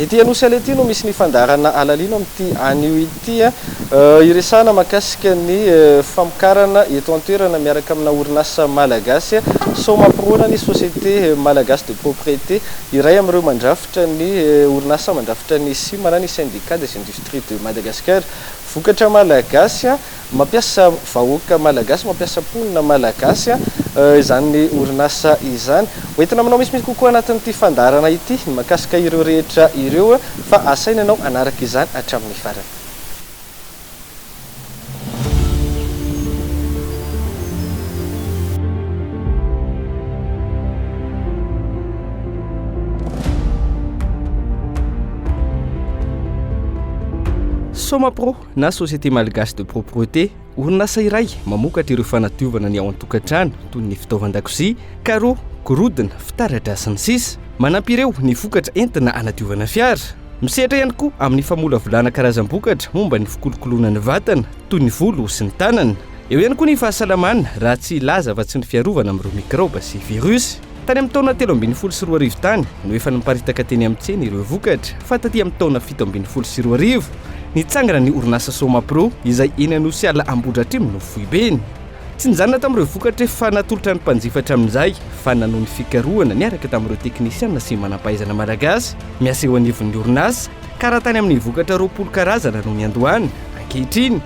Ety Anosy ety no misy ny fandaharana halalino amin'ity anio ity. Hiresahana mahakasika ny famokarana eto an-toerana miaraka amina orinasa malagasy. Sao mampirona ny Société Malagasy de Propriété, iray amin'ireo mandrafitra ny orinasa mandrafitra ny sima na ny Syndicat des Industries de Madagascar. Vokatra malagasy. Mampiasa vahoaka malagasy, mampiasa mponina malagasy izany orinasa izany. Ho entina manao misimisy kokoa anatin'ity fandaharana ity ny mahakasika ireo rehetra ireo fa asaina ianao hanaraka izany hatramin'ny farany. Somapro, na Société Malgache de Propreté, orinasa iray mamokatra ireo fanadiovana ny ao an-tokantrano toy ny fitaovan-dakozia, carreaux, gorodona, fitaratra sy ny sisa Manampy ireo ny vokatra entina hanadiovana fiara. Misehatra ihany koa amin'ny famolavolana karazam-bokatra momba ny fikolokoloana ny vatana toy ny volo sy ny tanana. Eo ihany koa ny fahasalamana raha tsy hilaza afa-tsy ny fiarovana amin'ireo mikraoba sy virus. Tany amin'ny taona telo ambin'ny folo sy roa arivo tany no efa niparitaka teny amin'ny tsena ireo vokatra fa taty amin'ny taona fito ambin'ny folo sy roa arivo, nitsangana ny orinasa Somapro izay eny Anosiala Ambohidratrimo no foibeny. Tsy nijanona tamin'ireo vokatra efa natolotra ny mpanjifa hatramin'izay fa nanohy ny fikarohana niaraka tamin'ireo teknisiana sy manam-pahaizana malagasy miasa eo anivon'ny orinasa ka raha tany amin'ny vokatra roapolo karazana no niandohana, ankehitriny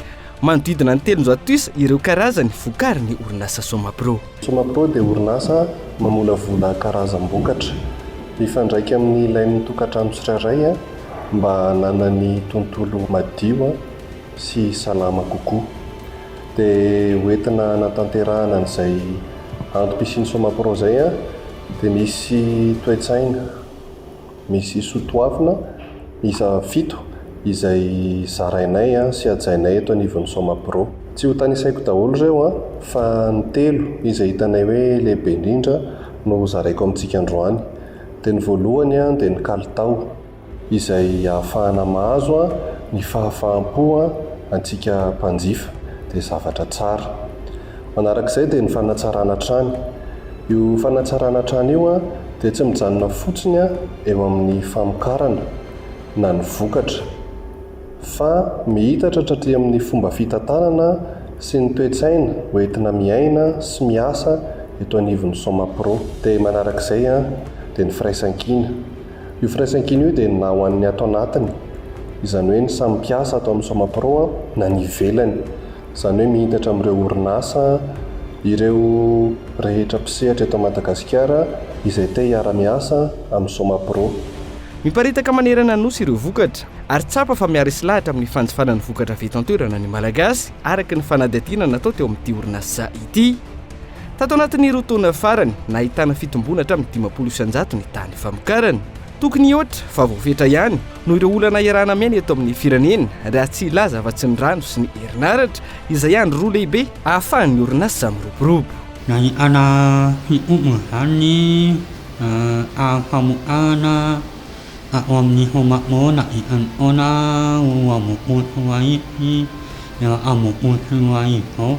manodidina ny telonjato isa ireo karazany vokarin'ny orinasa Somapro. Somapro dia orinasa mamolavola karazam-bokatra, mifandraika amin'ny ilain'ny tokantrano tsirairay mba hananany tontolo madio sy salama kokoa. Dia hoentina hanatanterahana an'izay antom-pisian'ny Somapro izay dia misy toe-tsaina. Misy soatoavina miisa fito izay zarainay sy hajainay eto anivon'ny Somapro. Tsy ho tanisaiko daholo ireo an, fa ny telo izay hitanay hoe lehibe indrindra no ho zaraiko amintsika androany. Dia ny voalohany dia ny kalitao, izay ahafahana mahazo ny fahafaham-po antsika mpanjifa, dia zavatra tsara. Manarak'izay dia ny fanatsarana hatrany. Io fanatsarana trano io dia tsy mijanona fotsiny eo amin'ny famokarana na ny vokatra fa miitatra hatraty amin'ny fomba fitantanana sy ny toe-tsaina ho entina miaina sy miasa eto anivon'ny Somapro. Dia manarak'izay dia ny firaisankina. Io firaisankina io dia na ho an'ny ato anatiny, izany hoe ny samy mpiasa ato amin'ny Somapro na ny ivelany, izany hoe mihintatra amin'ireo orinasa, ireo rehetra mpisehatra eto Madagasikara izay te hiara-miasa amin'ny Somapro. Miparitaka manerana ny Nosy ireo vokatra, ary tsapa fa miara isilahatra amin'ny fanjifana ny vokatra avy eto an-toerana ny Malagasy, araka ny fanadihadiana natao teo amin'ity orinasa ity. Tato anatin'ny roa taona farany, nahitana fitomboana hatramin'ny dimampolo isan-jato ny tany famokarana. Tokony hihoatra fa voafetra ihany noho ireo olana iarahana miaina eto amin'ny firenena raha tsy hilaza afa-tsy ny rano sy ny herinaratra izay andry roa lehibe ahafahan'ny orinasa miroborobo. Nahitana fitombona izany ny ara-pamokarana ao amin'ny Homa-Morona eran'ny taona roa ambin'ny folo sy roa arivo sy iraika ambin'ny folo sy roa arivo izao.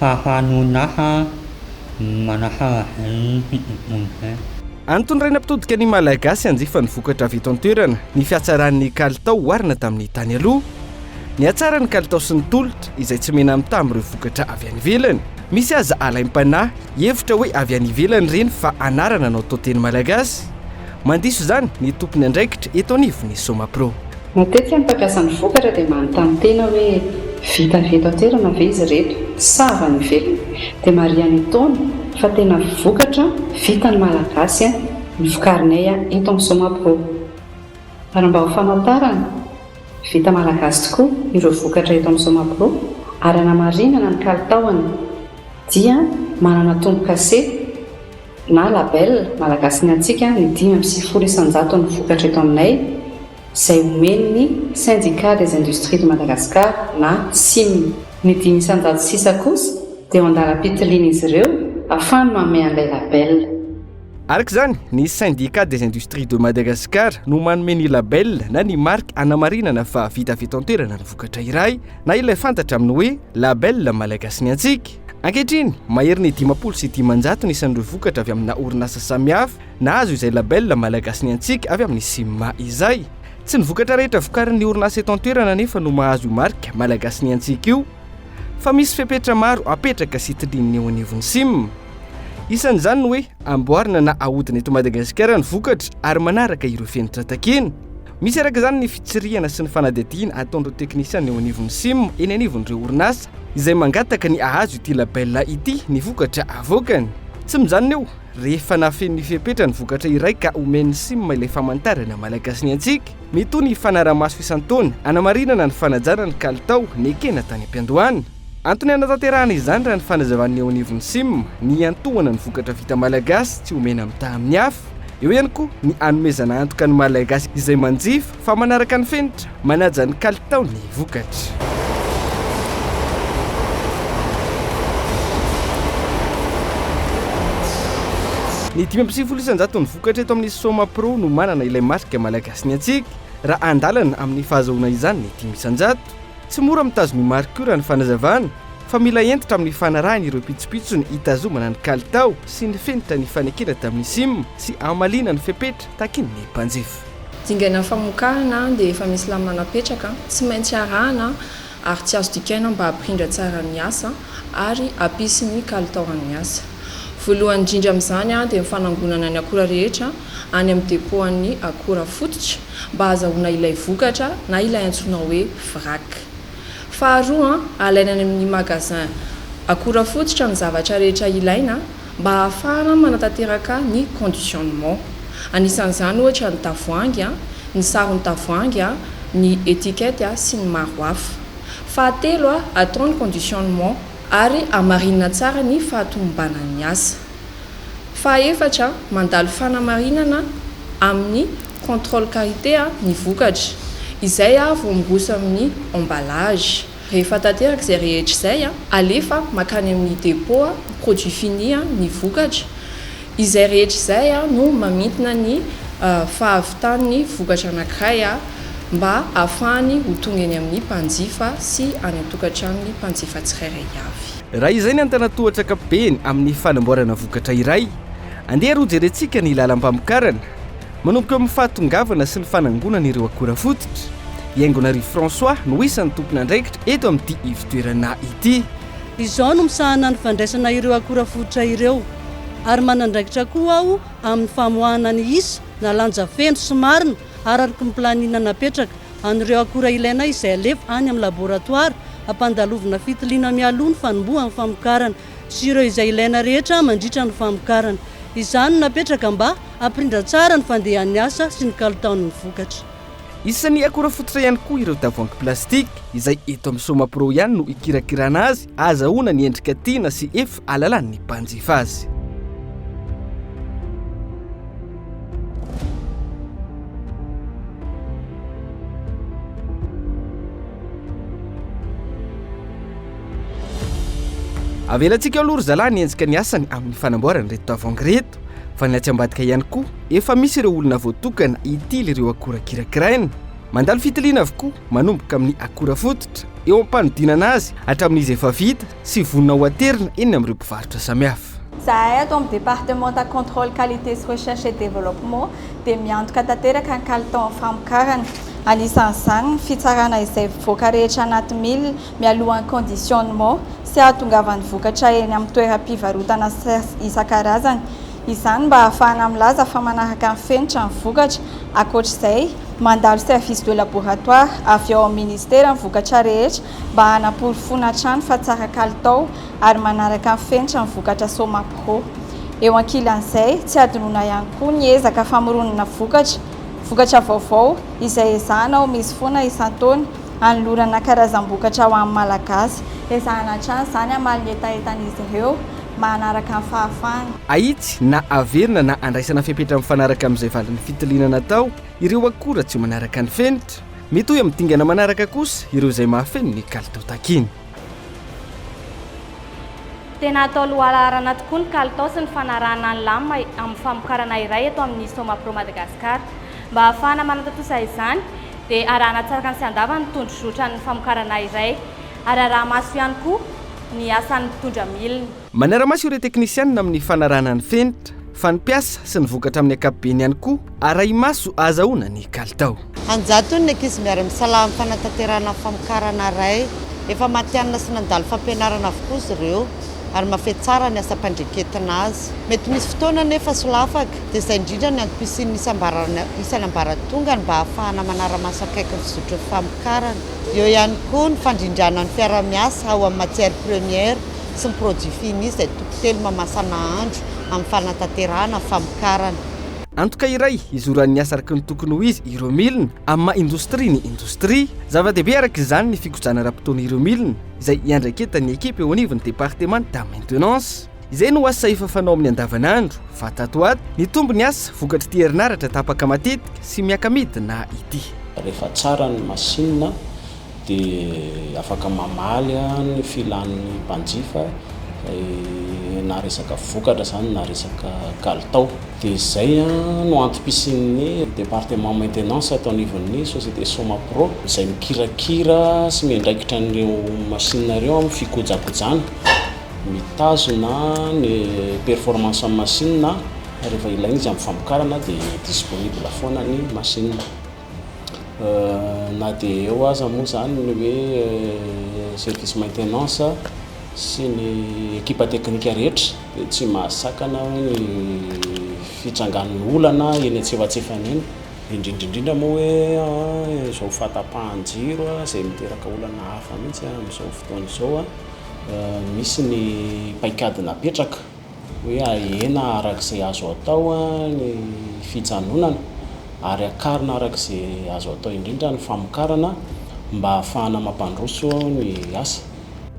Fahanonana manaharaha. Antony iray nampitodika ny Malagasy hanjifa ny vokatra avy eto an-toerana ny fihatsaran'ny kalitao oharina tamin'ny tany aloha. Nihatsara ny kalitao sy ny tolotra izay tsy mena-mitaha amin'ireo vokatra avy any ivelany. Misy aza alaim-panahy hihevitra hoe avy any ivelany ireny fa anarana anao tao teny Malagasy. Mandiso izany ny tompon'andraikitra eto anivon'ny Somapro. Matetika ny mpampiasa ny vokatra dia manontany tena hoe vita avy eto an-toerana ve izy ireto sa avy any ivelany? Dia marihan'ny Itaona fa tena vokatra vitan'ny Malagasy ny vokarinay eto amin'ny Somapro. Ary mba ho famantarana vita Malagasy tokoa ireo vokatra eto amin'ny Somapro ary hanamarinana ny kalitaony dia manana tombokase, na label, Malagasy ny Antsika ny dimy amby sivifolo isan-jaton'ny vokatra eto aminay izay omen'ny Syndicat des Industries de Madagascar na sim. Ny dimy isan-jato sisa kosa dia eo an-dalam-pitilian'izy ireo afahany manome an'ilay label. Araka izany, ny Syndicat des Industries de Madagascar no manome ny label na ny marika hanamarinana fa vita avy eto an-toerana ny vokatra iray na ilay fantatra amin'ny hoe label Malagasy ny Antsika. Ankehitriny, mahery ny dimampolo sy dimanjato ny isan'ireo vokatra avy amina orinasa samihafa nahazo izay label Malagasy ny antsika avy amin'ny CIMMA izay. Tsy ny vokatra rehetra vokarin'ny orinasa eto an-toerana anefa no mahazo io marika Malagasy ny antsika io fa misy fepetra maro apetraka sy tiliana eo anivon'ny CIMMA. Isan'izany ny hoe amboarina na ahodina eto Madagasikara ny vokatra ary manaraka ireo fenitra takiana. Misy araka izany ny fitsirihana sy ny fanadihadiana ataon'ireo teknisiana eo anivon'ny sim eny anivon'ireo orinasa izay mangataka ny hahazo ity label ity ny vokatra avoakany. Tsy mijanona eo, rehefa nafehy ny fepetra ny vokatra iray ka omen'ny sim ilay famantarana Malagasy ny antsika, mety ho ny fanarahamaso isan-taona hanamarinana ny fanajana ny kalitao nekena tany am-piandohana. Antony hanatanterahana izany raha ny fanazavan'ny eo anivon'ny Sim ny hiantohana ny vokatra vita malagasy tsy omena mitaha amin'ny hafa. Eo ihany koa ny hanomezana antoka ny Malagasy izay manjifa fa manaraka ny fenitra manaja ny kalitaon'ny vokatra. Ny dimy amby sivifolo isan-jaton'ny vokatra eto amin'ny Soma Pro no manana ilay marika Malagasy ny antsika raha andalana amin'ny fahazahoana izany ny dimy isan-jato. Tsy mora mitazon'i Marco raha ny fanazavana fa mila hentitra amin'ny fanarahiny ireo pitsopitsony hitazomana ny kalitao sy ny fenitra nifanekena tamin'ny sim sy hamaliana ny fepetra takin'ny mpanjifa. Dingana famokarana dia efa misy lamina napetraka tsy maintsy arahana ary tsy azo dikaina mba hampirindra tsara ny asa ary hampisy ny kalitaoran'ny asa. Voalohany indrindra amin'izany dia ny fanangonana ny akora rehetra any amin'ny depoan'ny akora fototra. mba hahazahoana ilay vokatra na ilay antsoina hoe vrac. Faharoa, alaina any amin'ny magasin akora fototra ny zavatra rehetra ilaina mba hahafahana manatanteraka ny conditionnement. Anisan'izany ohatra ny tavoahangy, ny saron'ny tavoahangy, ny étiquette sy ny maro hafa. Fahatelo, atao ny conditionnement ary hamarinina tsara ny fahatomombanan'ny asa. Fahaefatra, mandalo fanamarinana amin'ny contrôle qualité ny vokatra, izay vao miroso amin'ny emballage. Rehefa tanteraka izay rehetra izay, alefa mankany amin'ny dépôt, produit fini, ny vokatra. Izay rehetra izay no mamintina ny fahavitan'ny vokatra anankiray mba hahafahany ho tonga eny amin'ny mpanjifa sy any an-tokantranon'ny mpanjifa tsirairay avy. Raha izay ny antanatohatra ankapobeny amin'ny fanamboarana vokatra iray, andeha ary hojerentsika ny lalam-pamokarana, manomboka eo amin'ny fahatongavana sy ny fanangonana ireo akora fototra. I Haingonarivo François no isan'ny tompon'andraikitra eto amin'ity ivotoerana ity. Izaho no misahana ny fandraisana ireo akora fototra ireo, ary manandraikitra koa aho amin'ny famoahana ny isa na lanja feno sy marina ararky ny planina napetraka, an'ireo akora ilaina izay alefa any amin'ny laboratoara hampandalovina fitiliana mialoha ny fanombohan'ny famokarana sy ireo izay ilaina rehetra mandritra ny famokarana. Izany no napetraka mba hampirindra tsara ny fandehan'ny asa sy ny kalitaon'ny vokatra. Isan'ny akora fototra ihany koa ireo tavoahangy plastika izay eto amin'ny Somapro ihany no ikirakirana azy Azahoana ny endrika tiana sy ef alalan'ny mpanjifa azy. Avelantsika aloha ry zalahy ny enjika ny asany amin'ny fanamboarana ireto tavoahangy ireto fa ny atsy ambadika ihany koa efa misy ireo olona voatokana hitily ireo akora kirakiraina. Mandalo fitiliana avokoa. manomboka amin'ny akora fototra, eo am-panodinana azy hatramin'izy efa vita sy vonona ho aterina eny amin'ireo mpivarotra samihafa. Izahay ato amin'ny Departemanta Contrôle Qualité sy Recherche et Développement dia miantoka tanteraka ny kalitaon'ny famokarana, anisan'izany ny fitsarana izay vovoka rehetra anaty mille mialohan'ny conditionnement sy ahatongavan'ny vokatra eny amin'ny toeram-pivarotana isan-karazany. Izany mba hahafahana milaza fa manaraka ny fenitra ny vokatra. Ankoatra izay, mandalo service de laboratoire avy ao amin'ny Minisitera ny vokatra rehetra mba hanaporofoana hatrany fa tsara kalitao ary manaraka ny fenitra ny vokatra Somapro. Eo ankilan'izay, tsy hadinoina ihany koa ny ezaka famoronana vokatra, vokatra vaovao, izay ezahana ho misy foana isan-taona, hanolorana karazam-bokatra ho an'ny Malagasy. Ezahana hatrany izany hamaly ny hetahetan'izy ireo. mahanaraka ny fahafahana. Ahitsy na averina na andraisana fepetra mifanaraka amin'izay valin'ny fitiliana natao ireo akora tsy manaraka ny fenitra. Mitohy amin'ny dingana manaraka kosa ireo izay mahafeno ny kalitao takiana. Tena atao lohalaharana tokoa ny kalitao sy ny fanarahana ny lamina amin'ny famokarana iray eto amin'ny Somapro Madagascar. Mba hahafahana manatontosa izany dia arahana tsara sy andava ny tondrozotran'ny famokarana iray. ary araha-maso ihany koa ny asan'ny mpitondra milina. Manara-maso ireo teknisianina amin'ny fanarahana ny fenitra, fa ny mpiasa sy ny vokatra amin'ny ankapobeny ihany koa arahi-maso ahazahoana ny kalitao. An-jatony ny ankizy miara-misalahy amin'ny fanatanterahana ny famokarana iray. Efa matihanina sy nandalo fampianarana avokoa izy ireo, ary mahafehy tsara ny asam-pandreketina azy. Mety misy fotoana anefa solafaka, dia izay indrindra ny antom-pisian'ny isan'ambaratongany mba hahafahana manara-maso akaiky ny fizotry ny famokarana. Eo ihany koa ny fandrindrana ny mpiara-miasa ao amin'ny matière première sy ny produit fini izay toko telo mamasa nahandro amin'ny fanatanterahana ny famokarana. Antoka iray hizoran'ny asa araka ny tokony ho izy ireo milina amin'ny maha indostria ny indostria. Zava-dehibe araka izany ny fikodrana ara-potoana ireo milina izay iandraiketan'ny ekipa eo anivon'ny departemanta maintenance. Izay no asa efa fanao amin'ny andavanandro, fa tato ato, nitombo ny asa vokatr'ity herinaratra tapaka matetika sy miaka-midina ity. Rehefa tsara ny masinina dia afaka mamaly ny filan'ny mpanjifa na resaka vokatra izany na resaka kalitao. Dia izay no antom-pisian'ny Département Maintenance ato anivon'ny Société Somapro izay mikirakira sy miandraikitra an'ireo masinina ireo amin'ny fikojakojana Mitazona ny performance an'ny machine rehefa ilaina izy amin'ny famokarana dia disponible foana ny machine. Na dia eo aza moa izany ny hoe service maintenance sy ny ekipa teknika rehetra dia tsy mahasakana ny fitrangan'ny olana eny antsefatsefany eny, indrindra indrindra moa hoe izao fahatapahan-jiro izay miteraka olana hafa mihitsy amin'izao fotoana izao. Misy ny paikady napetraka hoe ahena araka izay azo atao ny fijanonana ary hakarina araka izay azo atao indrindra ny famokarana mba hahafahana mampandroso ny asa.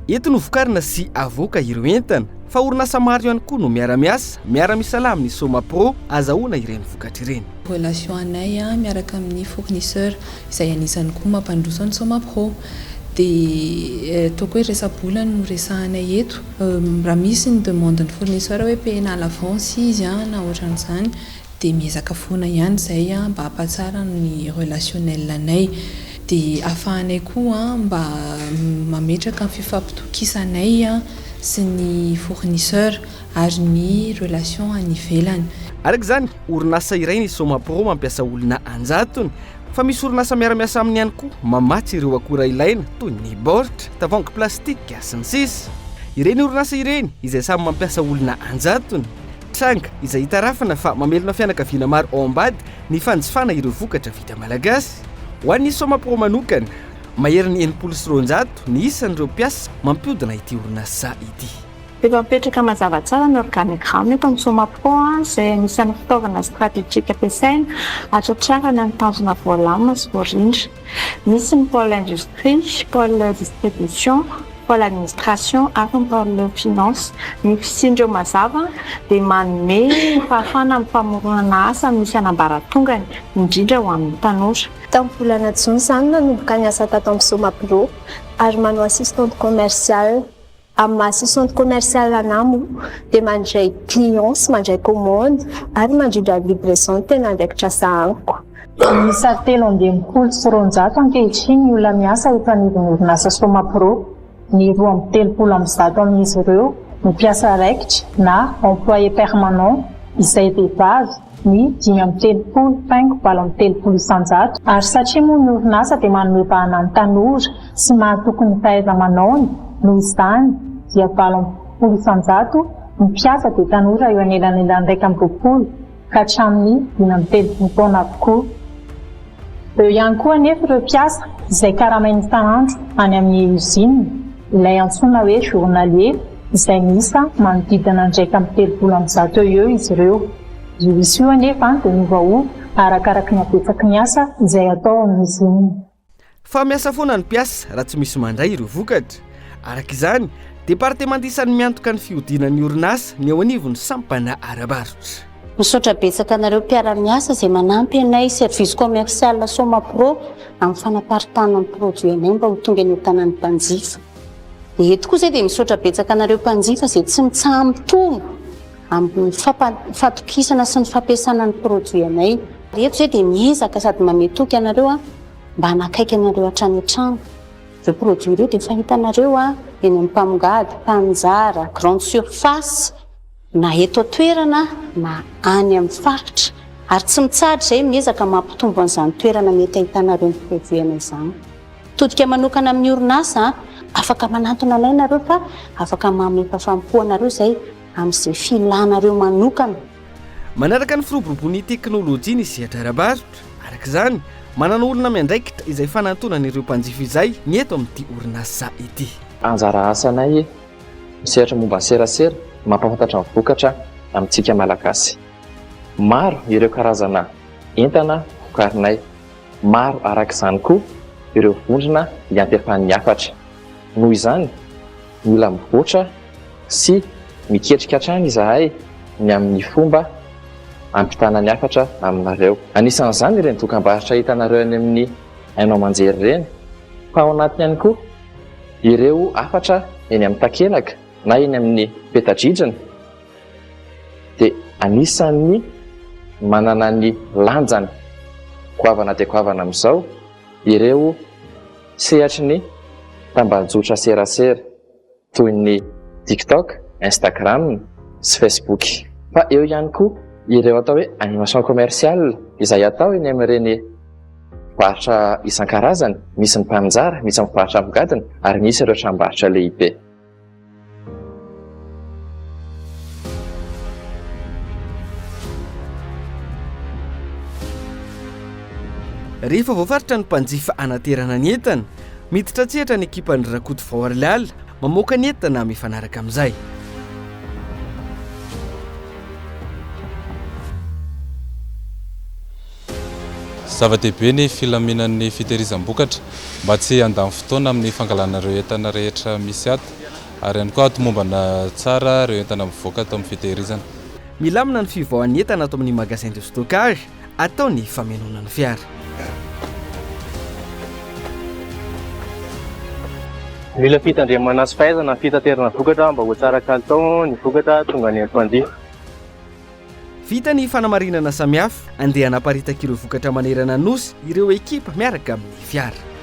Eto no vokarina sy avoaka ireo entana fa orinasa maro ihany koa no miara-miasa, miara-misalahy amin'ny Somapro azahoana ireny vokatra ireny. Relation anay miaraka amin'ny fournisseur. izay anisany koa mampandroso an'i Somapro. Dia toaka hoe resa-bola no resahanay eto. Raha misy ny demande ny fournisseur hoe payena à l'avance izy na ohatran'izany dia miezaka foana ihany izay mba hampatsara ny relationnel anay. Dia afahanay koa mba mametraka ny fifampitokisanay sy ny fournisseur ary ny relation any ivelany. Araka izany, orinasa iray ny Somapro mampiasa olona an-jatony fa misy orinasa miara-miasa aminy ihany koa mamatsy ireo akora ilaina toy ny baoritra, tavoahangy plastika sy ny sisa Ireny orinasa ireny izay samy mampiasa olona an-jatony, tranga izay itarafana fa mamelona fianakaviana maro ao ambady ny fanjifana ireo vokatra vita malagasy. Ho an'ny Somapro manokana, maherin'ny enimpolo sy roanjato ny isan'ireo mpiasa mampiodina ity orinasa ity. Efa mipetraka mazava tsara ny organigramme eto amin'ny Somaco izay anisan'ny fitaovana stratejika ampiasaina hahatratrarana ny tanjona voalàmina sy voarindra. Misy ny pole industrie, pole distribution, pole administration ary ny pole finance. Ny fisian'ireo mazava dia manome fahafahana amin'ny famoronana asa amin'ny isan'ambaratongany, indrindra ho an'ny tanora. Tamin'ny volana jona izany nanomboka ny asa tato amin'ny Somapro ary manao assistante commerciale. Amin'ny maha sous centre commercial an'Amo dia mandray clients sy mandray commande ary mandrindra ny livraison no tena andraikitra sahaniko. Miisa telo amby enimpolo sy roanjato ankehitriny ny olona miasa eto anivon'ny orinasa Somapro. Ny roa amby telopolo amby zato amin'izy ireo no mpiasa raikitra na employé permanent izay vehivavy, ny dimy amby telopolo paingo valo amby telopolo isan-jato, ary satria moa ny orinasa dia manome vahana ny tanora sy mahatoky ny fahaiza-manaony, noho izany dia valo amby folo isan-jato ny mpiasa dia tanora eo anelanelan'ny iraika amby roapolo ka hatramin'ny dimy amby telopolo taona avokoa. Eo ihany koa anefa ireo mpiasa izay karamaina isan'andro any amin'ny Usine, ilay antsoina hoe journalier, izay miisa manodidina ny iraika amby telopolo amby zato eo eo izy ireo. Io isa io anefa dia miovaova arakaraka ny habetsaky ny asa izay atao ao amin'ny Usine. Fa miasa foana ny mpiasa raha tsy misy mandray ireo vokatra. Araka izany, departemanta isan'ny miantoka ny fihodinan'ny orinasa ny eo anivon'ny sampana ara-barotra. Misaotra betsaka anareo mpiara-miasa izay manampy anay Service Commercial Somapro amin'ny fanaparitahana ny produit anay mba ho tonga eny an-tanan'ny mpanjifa. Dia eto koa izahay dia misaotra betsaka anareo mpanjifa izay tsy mitsaha-mitombo amin'ny fampa- fatokisana sy ny fampiasana ny produit anay. Eto izahay dia miezaka sady mamehy toky anareo. mba hanakaiky anareo hatrany an-trano. Ireo produits ireo dia efa hitanareo eny amin'ny mpamongady, mpanjara, grande surface, na eto an-toerana na any amin'ny faritra. Ary tsy mitsahatra izahay miezaka mampitombo an'izany toerana mety hahitanareo ny produits anay izany. Mitodika manokana amin'ny orinasa, afaka manantona anay ianareo fa afaka mamefa fanompoanareo izahay amin'izay filanareo manokana. Manaraka ny firoboroboan'ny teknolojia ny sehatra ara-barotra. Araka izany, manana olona miandraikitra izay fanantonana ireo mpanjifa izay ny eto amin'ity orinasa ity. Anjara asanay misehatra momba ny serasera ny mampahafantatra ny vokatra amintsika Malagasy. Maro ireo karazana entana vokarinay. Maro araka izany koa ireo vondrona iantefan'ny hafatra. Noho izany. Mila mivoatra sy miketrika hatrany izahay ny amin'ny fomba hampitana ny hafatra aminareo. Anisan'izany ireny dokambarotra hitanareo any amin'ny haino aman-jery ireny, fa ao anatiny ihany koa ireo hafatra eny amin'ny takelaka na eny amin'ny peta-dridrina dia anisan'ny manana ny lanjany goavana dia goavana amin'izao ireo Sehatry ny tambajotra serasera toy ny TikTok, Instagram sy Facebook. Fa eo ihany koa ireo atao hoe animation commerciale izay atao eny amin'ireny varotra isan-karazany, misy ny mpaninjara, misy ny mpivarotra amigadiny ary misy ireo tranombarotra lehibe. Rehefa voafaritra ny mpanjifa hanaterana ny entana, miditra an-tsehatra ny ekipan'ny Rakoto Vao Arilala, mamoaka ny entana mifanaraka amin'izay. Zava-dehibe ny filaminan'ny fitehirizam-bokatra mba tsy handany fotoana amin'ny fangalana ireo entana rehetra misy ato ary ihany koa hatomombana tsara ireo entana mivoaka ato amin'ny fitehirizana. Milamina ny fivoahan'ny entana ato amin'ny Magasin de stockage atao ny famenoana ny fiara. Mila fitandremana sy fahaizana amin'ny fitaterana vokatra mba ho tsara kalitao ny vokatra tonga any amin'ny mpanjifa. Vita ny fanamarinana samihafa, andeha hanaparitaka ireo vokatra manerana ny Nosy ireo ekipa miaraka amin'ny fiara.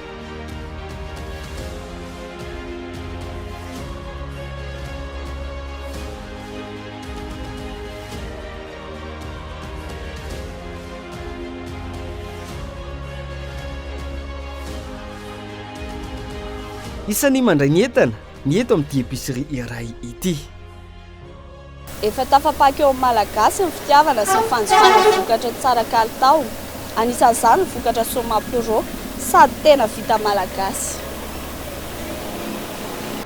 Isan'ny mandray ny entana ny eto amin'ity épicerie iray ity. Efa tafapaky eo amin'ny Malagasy ny fitiavana sy ny fanjifana ny vokatra tsara kalitao. Anisan'izany ny vokatra Soma Pro, sady tena vita malagasy.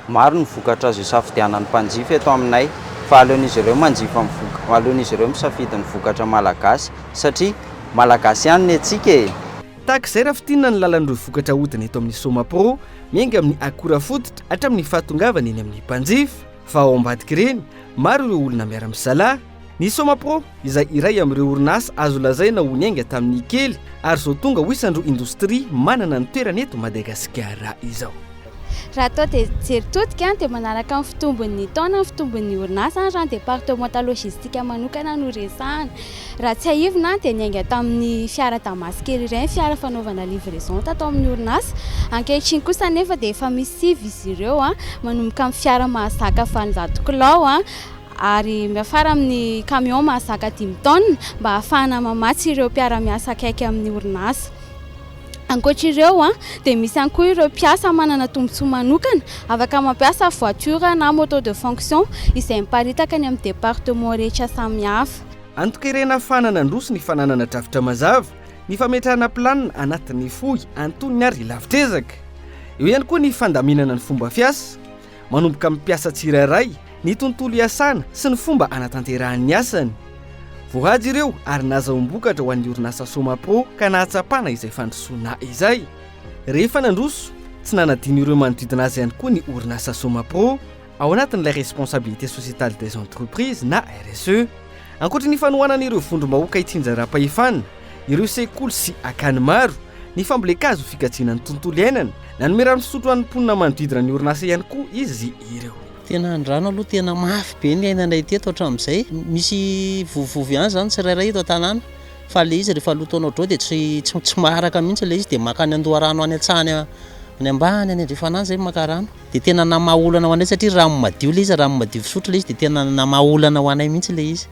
Maro ny vokatra azo isafidianan'ny mpanjifa eto aminay, fa aleon'izy ireo manjifa ny vok, aleon'izy ireo misafidy ny vokatra malagasy, satria malagasy ihany ny antsika e! Tahaka izay raha fintinina ny lalan'ireo vokatra ahodina eto amin'ny Soma Pro, miainga amin'ny akora fototra hatramin'ny fahatongavany eny amin'ny mpanjifa. Fa ao ambadik'ireny, maro ireo olona miara-misalahy. Ny Somapro, izay iray amin'ireo orinasa azo lazaina ho niainga tamin'ny kely ary izao tonga ho isan'ireo indostria manana ny toerany eto Madagasikara izao. Raha atao jeritodika dia manaraka ny fitombon'ny taona ny fitombon'ny orinasa raha ny departemanta lojistika manokana no resahana. Raha tsiahivina dia niainga tamin'ny fiara Damas kely iray ny fiara fanaovana livraison tato amin'ny orinasa. Ankehitriny kosa anefa dia efa misy sivy izy ireo manomboka amin'ny fiara mahazaka valonjato kilao ary miafara amin'ny camion mahazaka dimy taonina mba hahafahana mamatsy ireo mpiara-miasa akaiky amin'ny orinasa. Ankoatra ireo dia misy ihany koa ireo mpiasa manana tombontsoa manokana afaka mampiasa voiture na moto de fonction izay miparitaka any amin'ny département rehetra samihafa. Antokerena fa nanandroso ny fananana drafitra mazava, ny fametrahana planina anatin'ny fohy antonony ary lavitr'ezaka. Eo ihany koa ny fandaminana ny fomba fiasa, manomboka amin'ny mpiasa tsirairay, ny tontolo iasana sy ny fomba hanatanterahany ny asany. Voahaja ireo ary nazahoam-bokatra ho an'ny orinasa Somapro ka nahatsapana izay fandrosoana izay. Rehefa nandroso, tsy nanadino ireo manodidina azy ihany koa ny orinasa Somapro. ao anatin'ilay Responsabilité Sociétale des Entreprises na RSE. Ankoatra ny fanohanana ireo vondrom-bahoaka itsinjaram-pahefana, ireo sekoly sy akany maro, ny fambolen-kazo ho fikajiana ny tontolo iainana, nanome rano fisotro ho an'ny mponina manodidina ny orinasa ihany koa izy ireo. Tena andrano aloha tena mafy be ny iainanay teto hatramin'izay. Misy vovovovy ihany izany tsirairay eto an-tanàna fa ilay izy rehefa loto anao drô dia tsy tsy maharaka mihitsy ilay izy dia mankany an-doharano any an-tsaha any ambany any andrefan'any izay maka rano. dia tena namaha olana ho anay satria rano madio ilay izy, rano madio fisotro ilay izy dia tena namaha olana ho anay mihitsy ilay izy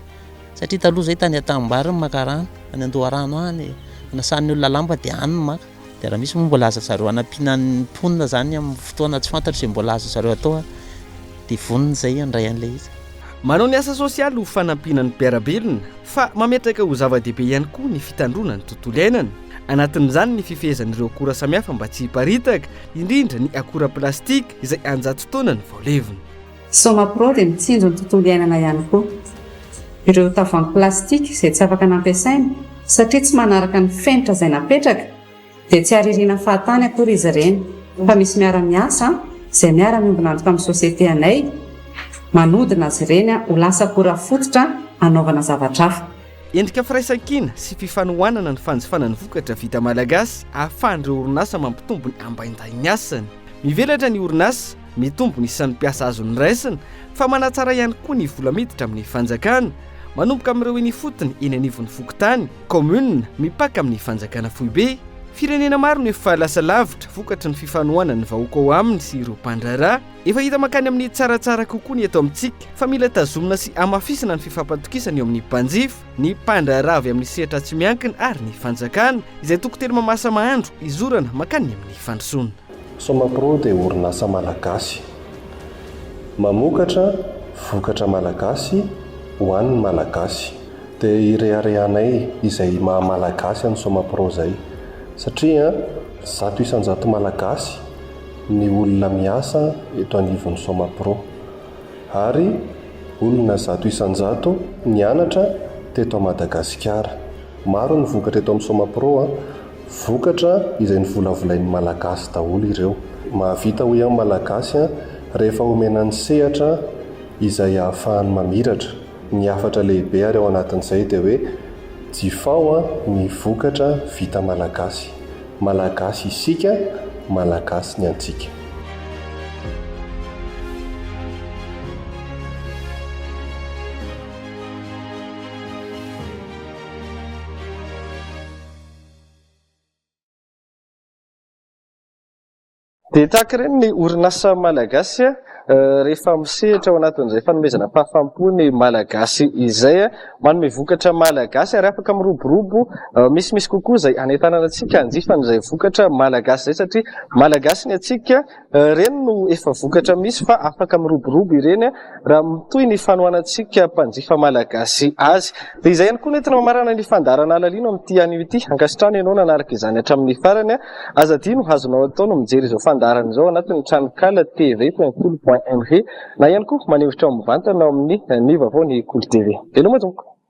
satria taloha izay tany an-tanimbary no maka rano, any an-doharano any, anasan'ny olona lamba dia any no maka, dia raha misy moa mbola aza zareo hanampiana ny mponina izany amin'ny fotoana tsy fantatro izay mbola azo zareo atao dia vonona izay handray an'ilay izy. Manao ny asa sosialy ho fanampiana ny mpiara-belona fa mametraka ho zava-dehibe ihany koa ny fitandroana ny tontolo iainana. Anatin'izany ny fifehezan'ireo akora samihafa mba tsy hiparitaka, indrindra ny akora plastika izay an-jato taona ny vao levona. Somapro dia mitsinjo ny tontolo iainana ihany koa. Ireo tavoahangy plastika izay tsy afaka nampiasaina satria tsy manaraka ny fenitra izay napetraka dia tsy haririna fahatany akory izy ireny fa misy miara-miasa izay miara-miombon'antoka amin'ny société anay manodina azy ireny ho lasa akora fototra hanaovana zavatra hafa. Endrika firaisankina sy fifanohanana ny fanjifana ny vokatra vita malagasy ahafahan'ireo orinasa mampitombo ny ambaindahin'ny asany. Mivelatra ny orinasa, mitombo ny isan'ny mpiasa azo noraisina fa manatsara ihany koa ny vola miditra amin'ny fanjakana, manomboka amin'ireo eny ifotony eny anivon'ny fokontany, commune, mipaka amin'ny fanjakana foibe. Firenena maro no efa lasa lavitra vokatry ny fifanohanan'ny vahoaka ao aminy sy ireo mpandraharaha. Efa hita mankany amin'ny tsaratsara kokoa ny eto amintsika fa mila tazomina sy hamafisina ny fifampatokisana eo amin'ny mpanjifa, ny mpandraharaha avy amin'ny sehatra tsy miankina ary ny fanjakana izay toko teny mamasa mahandro hizorana mankany amin'ny fandrosoana. Somapro dia orinasa malagasy mamokatra vokatra malagasy ho an'ny malagasy. Dia ireharehanay izay maha malagasy an'i Somapro izay satria zato isan-jato malagasy, ny olona miasa eto anivon'ny Somapro, ary olona zato isan-jato nianatra teto Madagasikara. Maro ny vokatra eto amin'ny Somapro, vokatra izay novolavolain'ny Malagasy daholo ireo. Mahavita hoy aho ny Malagasy rehefa omena ny sehatra izay ahafahany mamiratra. Ny hafatra lehibe ary ao anatin'izay dia hoe, jifao ny vokatra vita Malagasy. Malagasy isika, Malagasy ny antsika. Dia tahaka ireny ny orinasa malagasy rehefa misehatra ao anatin'izay fanomezana fahafaham-po ny malagasy izay, manome vokatra malagasy ary afaka miroborobo misimisy kokoa izay hanentanana antsika hanjifa an'izay vokatra malagasy izay satria malagasy ny antsika. Ireny no efa vokatra misy fa afaka miroborobo ireny. raha mitohy ny fanohanantsika mpanjifa malagasy azy. Dia izay ihany koa no entina mamarana ny fandaharana halalina amin'ity anio ity. Ankasitrahana ianao nanaraka izany hatramin'ny farany. Aza adino ho azonao atao ny mijery izao fandaharana izao ao anatin'ny tranonkala TV Feonkoly point MG na ihany koa manehotra ao mivantana ao amin'ny Ny Vaovao Ny Koli TV. Veloma tompoko!